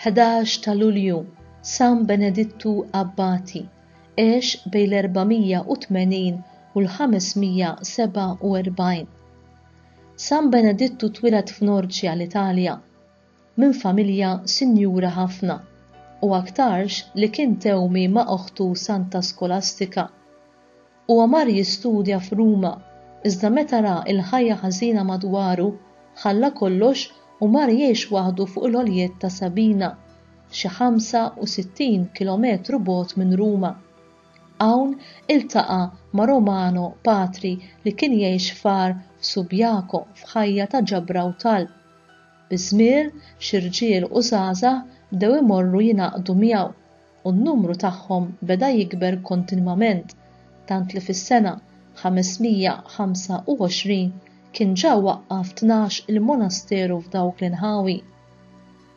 Ħdax ta' Lulju, San Benedittu Abbati, għex bejn l-480 u l-547. San Benedittu twieled f'Norċja l-Italja. minn familja sinjura ħafna u aktarx li kien tewmi ma' oħtu Santa Skolastika. Huwa mar jistudja f'Ruma iżda meta ra l-ħajja ħażina madwaru ħalla kollox u mar jgħix waħdu fuq il-għoljiet ta' Sabina, xi 65 kilometru bogħod minn Ruma. Hawn iltaqa' ma' Romano, patri li kien jgħix f'għar f'Subiaco f'ħajja ta' ġabra u talb. Biż-żmien, xi rġiel u żgħażagħ bdew imorru jingħaqdu miegħu, u n-numru tagħhom beda jikber kontinwament, tant li fis-sena 525 kien ġa waqqaf tnax il-monasteru f'dawk l-inħawi.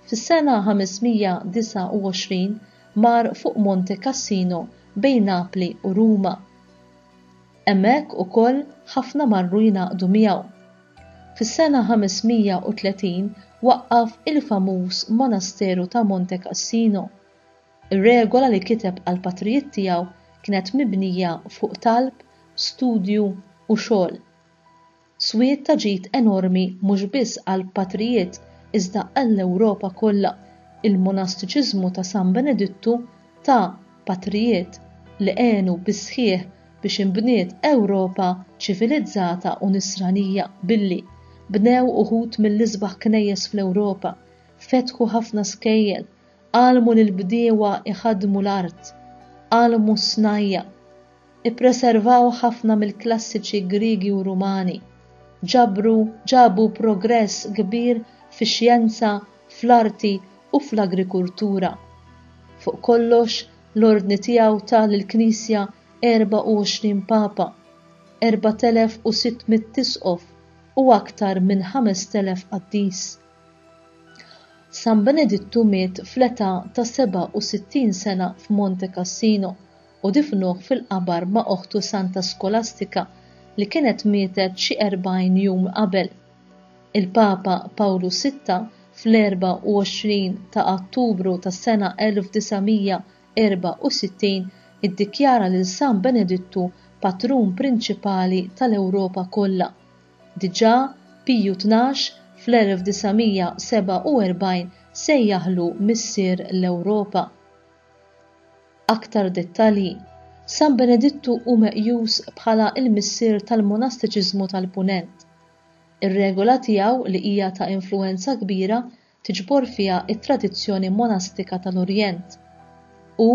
Fis-sena 529 mar fuq Monte Cassino bejn Napli u Ruma. Hemmhekk ukoll ħafna marru jingħaqdu miegħu. Fis-sena 530 waqqaf il-famuż monasteru ta' Monte Cassino. Ir-regola li kiteb għall-patrijiet tiegħu kienet mibnija fuq talb, studju u xogħol. Swied ta' ġid enormi mhux biss għall-patrijiet iżda għall-Ewropa kollha, il-monastiċiżmu ta' San Benedittu ta patrijiet li għenu bis-sħiħ biex inbniet Ewropa ċivilizzata u nisranija billi bnew uħud mill-isbaħ knejjes fl-Ewropa, fetħu ħafna skejjel, għallmu lill-bdiewa jħaddmu l-art, għallmu s-snajja', ippreservaw ħafna mill-klassiċi Griegi u Rumani, ġabru ġabu progress kbir fix-xjenza, fl-arti u fl-agrikultura. Fuq kollox L-Ordni tiegħu ta lill-Knisja 24 Papa, 4,600 Isqof u aktar minn 5,000 qaddis. San Benedittu miet fl-età ta' 67 sena f'Monte Cassino u difnuh fil-qabar ma' oħtu Santa Skolastika li kienet mietet xi 40 jum qabel. Il-Papa Pawlu Sitta fl-24 ta' Ottubru tas-sena 1964 iddikjara lil San Benedittu patrun prinċipali tal-Ewropa kollha. Diġà Piju Tnax fl-1947 sejjaħlu Missier l-Ewropa. Aktar dettalji, San Benedittu hu meqjus bħala l-Missier tal-Monastiċiżmu tal-Punent. Ir-regola tiegħu li hija ta' influwenza kbira tiġbor fiha t-tradizzjoni monastika tal-Orjent. Hu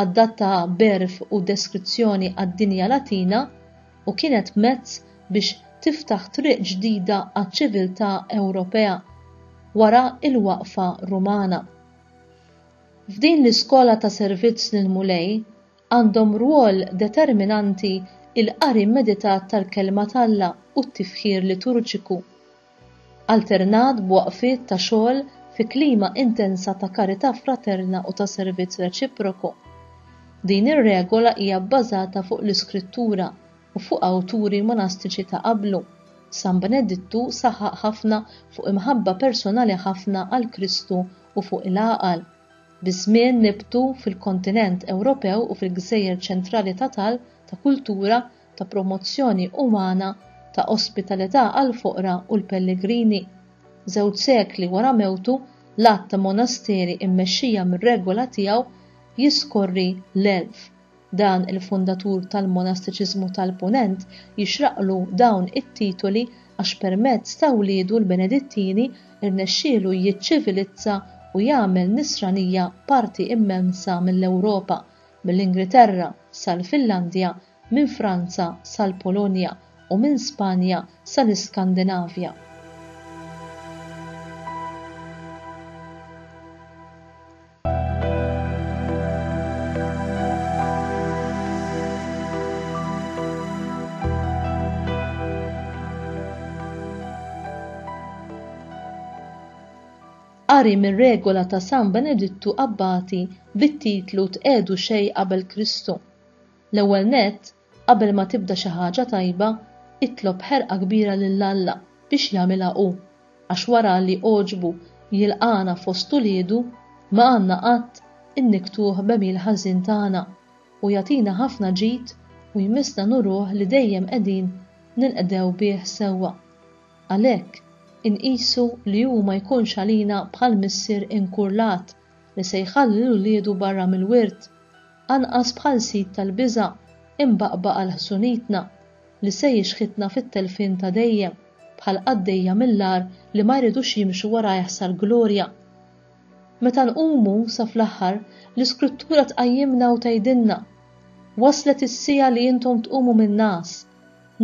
adattaha b'għerf u deskrizzjoni għad-dinja Latina u kienet mezz biex tiftaħ triq ġdida għaċ-ċiviltà Ewropea wara l-waqfa Rumana. F'din l-iskola ta' servizz lill-Mulej Għandhom rwol determinanti l-qari meditat tal-Kelma t'Alla u t-tifħir liturġiku, alternat b'waqfiet ta' xogħol fi klima intensa ta' karità fraterna u ta' servizz reċiproku. Din ir-regola hija bbażata fuq l-Iskrittura u fuq awturi monastiċi ta' qablu. San Benedittu saħaq ħafna fuq imħabba personali ħafna għal Kristu u fuq il-għaqal. Biż-żmien nibtu fil-kontinent Ewropew u fil-gżejjer ċentrali ta' talb, ta' kultura, ta' promozzjoni umana, ta' ospitalità għall-foqra u l-pellegrini. Żewġ sekli wara mewtu, l-għadd ta' monasteri mmexxija mir-regola tiegħu jiskorri l-elf. Dan il-fundatur tal-monastiċiżmu tal-Punent jixraqlu dawn it-titoli għax permezz ta' wliedu l-Benedittini rnexxielu jiċċivilizza u jagħmel nisranija parti immensa mill-Ewropa, mill-Ingriterra sal-Finlandja, minn Franza sal-Polonja u minn Spanja sal-Iskandinavja. Qari mir-regola ta' San Benedittu Abbati bit-titlu Tqiegħdu xejn qabel Kristu. L-ewwel nett, Qabel ma tibda xi ħaġa tajba, itlob b'ħerqa kbira lil Alla biex jagħmilha hu, għax wara li għoġbu jilqagħna fost uliedu, ma għandna qatt innikktuh b'għemil ħażin tagħna, u jagħtina ħafna ġid u jmissna nuruh li dejjem qegħdin ninqdew bih sewwa. Għalhekk, inqisu li hu ma jkunx għalina bħal missier inkurlat li se jħalli lil wliedu barra mill-wirt, anqas bħal sid tal-biża' imbaqbaq għal ħsunitna, li se jixħitna fit-telfien ta' dejjem, bħal qaddejja mill-agħar li ma jridux jimxu warajh sal-glorja. Meta nqumu, sa fl-aħħar, l-Iskrittura tqajjimna u tgħidilna, Waslet is-siegħa li intom tqumu min-ngħas,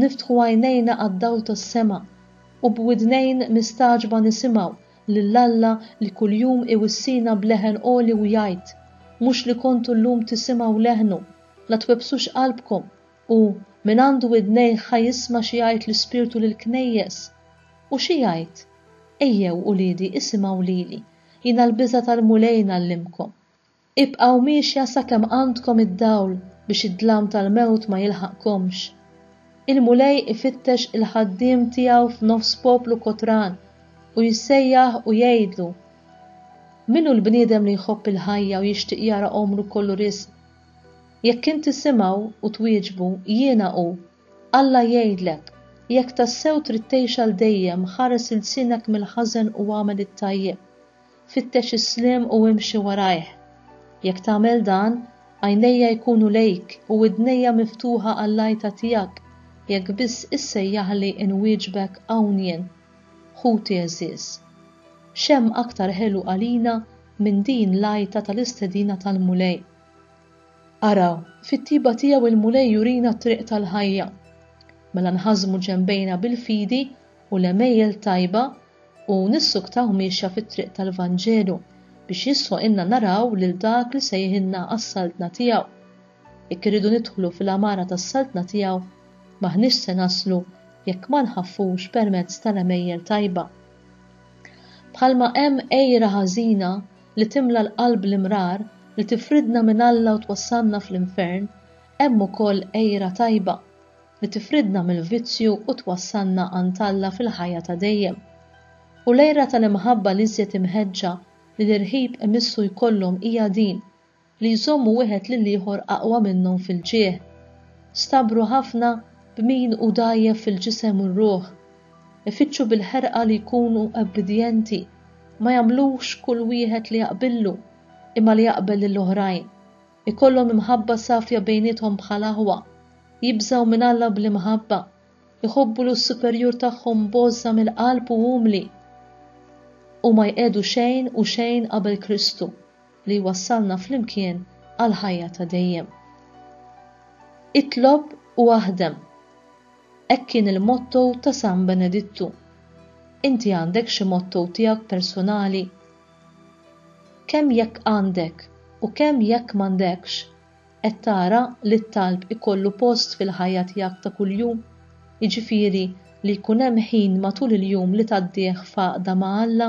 niftħu għajnejna għad-dawl tas-sema, u b'widnejn mistagħġba nisimgħu lil Alla li kuljum iwissina b'leħen għoli u jgħid, Mhux li kontu llum tisimgħu leħnu, la twebbsux qalbkom, u, Min għandu widnejh ħa jisma' xi jgħid l-Ispirtu lill-knejjes. U xi jgħid? Ejjew, uliedi, isimgħu lili, jiena l-biża' tal-Mulej ngħallimkom. Ibqgħu miexja sakemm għandkom id-dawl biex id-dlam tal-mewt ma jilħaqkomx. Il-Mulej ifittex il-ħaddiem tiegħu f'nofs poplu kotran u jsejjaħ u jgħidlu, Min hu l-bniedem li jħobb il-ħajja u jixtieq jara għomru kollu riżq? Jekk int tisimgħu u twieġbu, Jiena hu, Alla jgħidlek, Jekk tassew trid tgħix għal dejjem, ħares ilsienek mill-ħażen u agħmel it-tajjeb. Fittex is-sliem u imxi warajh. Jekk tagħmel dan, għajnejja jkunu lejk u widnejja miftuħa għall-għajta tiegħek jekk biss issejjaħli inwieġbek hawn jien, ħuti għeżież. X'hemm aktar ħelu għalina minn din l-għajta tal-istedina tal-Mulej? Araw, fit-tjieba tiegħu l-Mulej jurina t-triq tal-ħajja. Mela nħażmu ġenbejna bil-fidi u l-għemejjel tajba u nissuktaw miexja fit-triq tal-Vanġelu biex jisħoqilna naraw lil dak li sejħilna għas-Saltna tiegħu. Jekk irridu nidħlu fil-għamara tas-Saltna tiegħu, m'aħniex se naslu jekk ma nħaffux permezz tal-għemejjel tajba. Bħalma hemm għira ħażina li timla l-qalb l-imrar li tifridna minn Alla u twassalna fl-infern, hemm ukoll għira tajba li tifridna mill-vizzju u twassalna għand Alla fil-ħajja ta' dejjem. U l-għira tal-imħabba l-iżjed imħeġġa li l-irħib imissu jkollhom hija din, li jżommu wieħed lill-ieħor aqwa minnhom fil-ġieħ. Stabru ħafna b'min hu dgħajjef fil-ġisem u r-ruħ. Ifittxu bil-ħerqa li jkunu obbidjenti, ma jagħmlux kull wieħed li jaqbillu, imma li jaqbel lill-oħrajn. ikollhom imħabba safja bejniethom bħal aħwa, jibżgħu minn Alla bl-imħabba, iħobbu l superjur tagħhom b'għożża mill-qalb u umli, u ma jqiegħdu xejn u xejn qabel Kristu li jwassalna flimkien għall-ħajja ta' dejjem. Itlob u aħdem. Hekk kien il-motto ta' San Benedittu. Inti għandek xi motto tiegħek persunali Kemm jekk għandek u kemm jekk m'għandekx, qed tara li t-talb ikollu post fil-ħajja tiegħek ta' kuljum, jiġifieri li jkun hemm ħin matul il-jum li tgħaddih f'għaqda ma' Alla?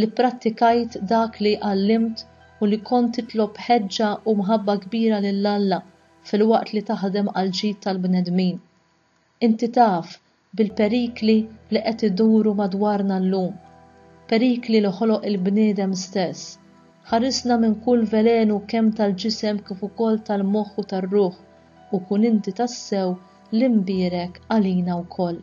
li pprattikajt dak li għallimt u li kont titlob b'ħeġġa u mħabba kbira lil Alla filwaqt li taħdem għall-ġid tal-bnedmin. Inti taf bil-perikli li qed iduru madwarna llum, perikli li ħoloq il-bniedem stess. Ħarisna minn kull velenu kemm tal-ġisem kif ukoll tal-moħħ u tar-ruħ, u kun inti tassew l-imbierek għalina wkoll.